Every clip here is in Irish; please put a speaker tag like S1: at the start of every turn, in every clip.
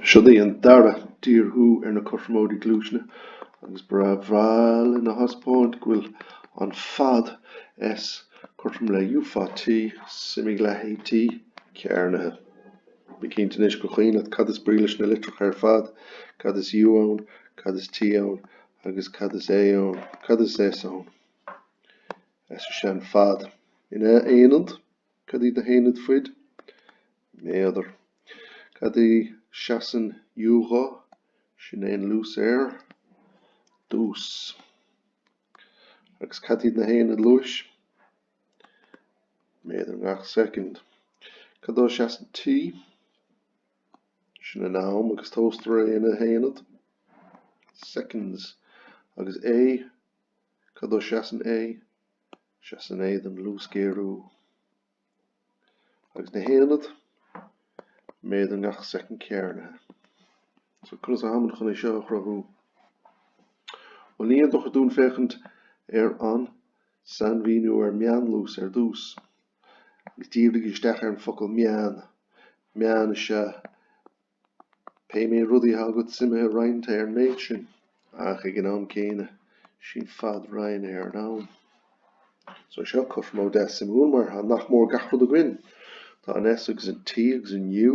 S1: Siod í an dara díorthú ar na cothromóidí gluaisne, agus ba bhreá linn a thaispeáint go bhfuil an fad S cothrom le U fa T, suimigh leath AT cearnaithe. Bí cinnte anois gur chuimhin leat cad is brí leis na litreacha ar fad, cad is U ann, cad is T ann, agus cad is A ann, cad is S ann. S is ea an fad in aonad. Cad iad na haonaid faid? Méadar. Cad é seasann U dhó? Sin é an luas ar dtús. Agus cad iad na haonaid luais? Méadar i ngach soicind. Cad dó seasann T? Sin an am agus tomhaistear é ina haonad. Seconds. Agus A? Cad dó seasann A? seasann A don luasghéarú agus na haonaid méadar i ngach soicind cearnaithe. So conas atháimid chun é seo a chruthú? Bhuel ní aon dochar dúinn féachaint ar an sainmhíniú ar mheánluas ar dtús agus dírígí isteach ar an focal meán. Meán is ea Pé méid rudaí atá agat suimithe roinnte ar an méid sin. Ach ag an am céanna, sin fad roinnte ar an am. So seo cothromóid deas suimiúil mar atá nach mór gach rud againn. Tá an S agus an T agus an U.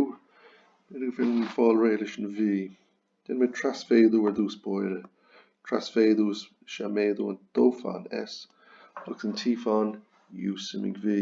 S1: B'fhéidir gur fiú fáil réidh leis an V. Déanaimid trasmhéadú ar dtús báire. Trasmhéadú is ea méadú an dó fán S agus an T fán U suimigh V.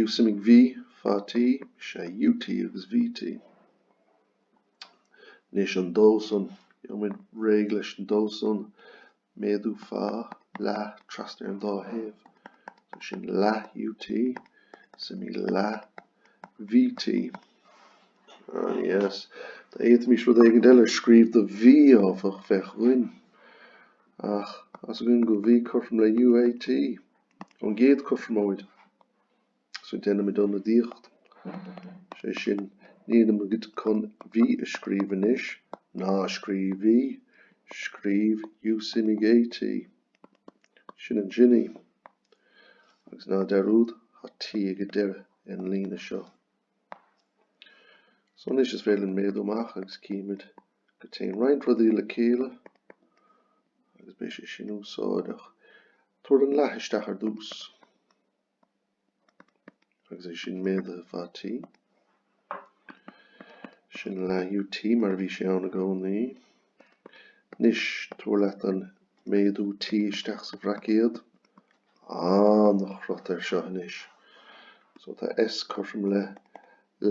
S1: U suimigh V fa T is ea UT agus VT. Anois an dó san, gheobhaimid réidh leis an dó san, méadú fa leath trasna ar an dá thaobh. So sin leath UT, suimigh leath VT. Ah, yes. Dá bhféadfaimis rud éigin eile a scríobh do V áfach, bheadh againn. Ach, tá a fhios againn go V cothrom le UAT. Ón gcéad cothromóid so déanaimid ionadaíocht, sé sin, nílimid chun V a scríobh anois, ná scríobh V, scríobh U suimigh AT. Sin ansin í. Agus ná dearúd, thá T ag deireadh an líne seo. So anois is féidir linn méadú amach agus címid, go dtéann roinnt rudaí le chéile agus beidh sé sin úsáideach. Tabhair an leath isteach ar dtús agus é sin méadaithe fá T. Sin an leath UT mar a bhí sé ann i gcónaí. Anois, tabhair leat an méadú T isteach sa bhraicéad. Ana-chrot air seo anois. So tá S cothrom le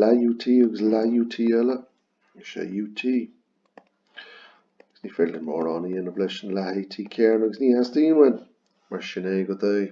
S1: leath UT agus leath UT eile. Is é UT. Agus ní féidir linn mórán a dhéanamh leis an leath AT cearnaithe agus ní theastaíonn uainn mar sin é go deo.